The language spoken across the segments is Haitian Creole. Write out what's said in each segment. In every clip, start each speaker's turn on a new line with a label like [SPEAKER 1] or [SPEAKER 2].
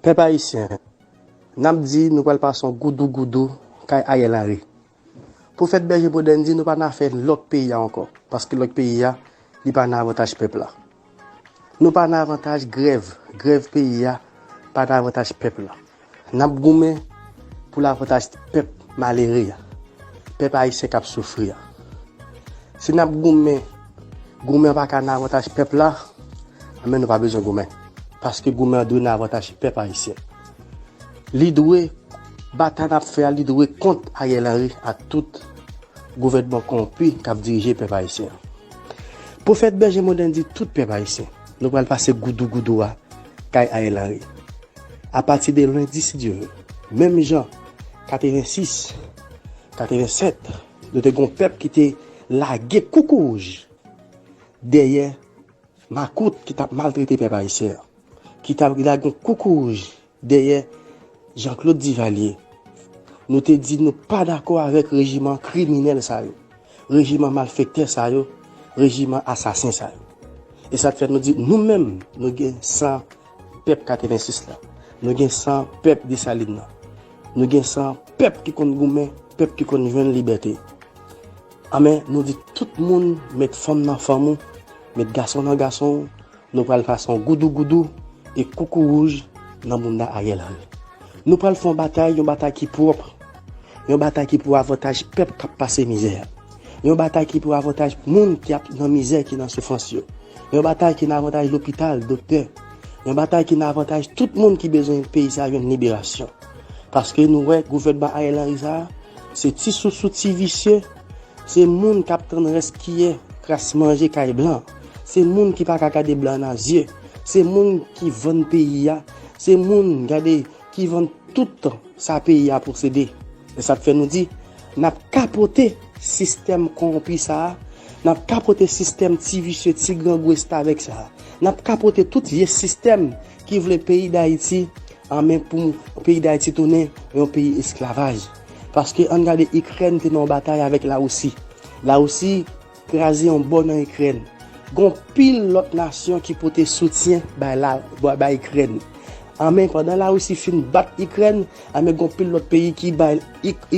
[SPEAKER 1] Pèp ayisyen, n ap di nou pral pase yon goudougoudou kay Ariel Henry. Pou fèt bèje Boden di nou pa nan afè lòk peyi a ankò, paske lòk peyi a, li pa nan avantaj pèp la. Nou pa nan avantaj grèv, grèv peyi a pa nan avantaj pèp la. Nap goumen pou lavantaj pèp malere a, pèp ayisyen kap soufri a. Si nap goumen, goumen an paka nan avantaj pèp la, anben nou pa bezwen goumen. Paske goumen an dwe nan avantaj pèp ayisyen. Li dwe, batay nap fè a li dwe kont Ariel Henry ak tout gouvènman kowonpi kap dirije pèp ayisyen an. Pwofèt Bèje Moden di tout pèp ayisyen, nou pral pase goudougoudou a kay Ariel Henry. Apati de lendi si Dye ve. Menm jan 86, 87 nou te gen yon pèp ki te lage koukourouj dèyè makout ki t ap maltrete pèp ayisyen an, ki t ap lage yon koukourouj dèyè Janklod Divalye. Nou te di nou pa dakò avèk rejiman kriminèl sa yo. Rejiman malfektè sa yo, rejiman asasen sa yo. E sa k fè nou di nou menm nou gen san pèp 86 la, nou gen san pèp Desalin nan, nou gen san pèp ki konn goumen, pèp ki konn jwenn libète. Anben, nou di tout moun met fanm nan fanm ou, met gason nan gason ou. Nou pral pase yon goudou goudou e koukou wouj nan mouna Ariel Henry. Nou pral fè yon batay, yon batay ki pwòp, yon batay ki pou avantaj pèp k ap pase mizè, yon batay ki pou avantaj moun ki ap nan mizè, ki nan soufrans yo, yon batay ki nan avantaj lopital, doktè, yon batay ki nan avantaj tout moun ki bezwen peyi sa a jwenn liberasyon. Paske nou wè gouvènman Ariel Henry sa a, se ti sousou, ti visye. Se moun kap tann rès kiyè kras manje kay blan, se moun ki paka gade blan nan zye, se moun ki vann peyi a, se moun gade ki vann tout sa peyi a posede. Se sak fè nou di nap kapote sistèm konronpi sa, nap kapote sistèm ti visye, ti grangou estavèk sa, nap kapote tout vye sistèm ki vle peyi dayiti anmen pou peyi dayiti tounen yon peyi esklavaj. Paske ann gade ikrèn te nan yon batay avèk lawousi lawousi kraze yon bò nan ikrèn gon pil lòt nasyon ki pote soutyen bay la bay ikrèn anben pandan lawousi fin bat ikrèn anben gon pil lòt peyi ki bay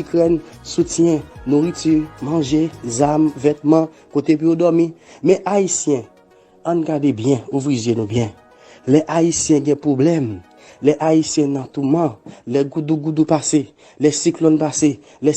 [SPEAKER 1] ikrèn soutyen nouriti manje zam vètman kote pou yo dòmi men ayisyen Ann gade byen, ouvri zye nou byen. Lè Ayisyen gen pwoblèm, lè Ayisyen nan touman, lè goudougoudou pase, lè siklòn pase, lè.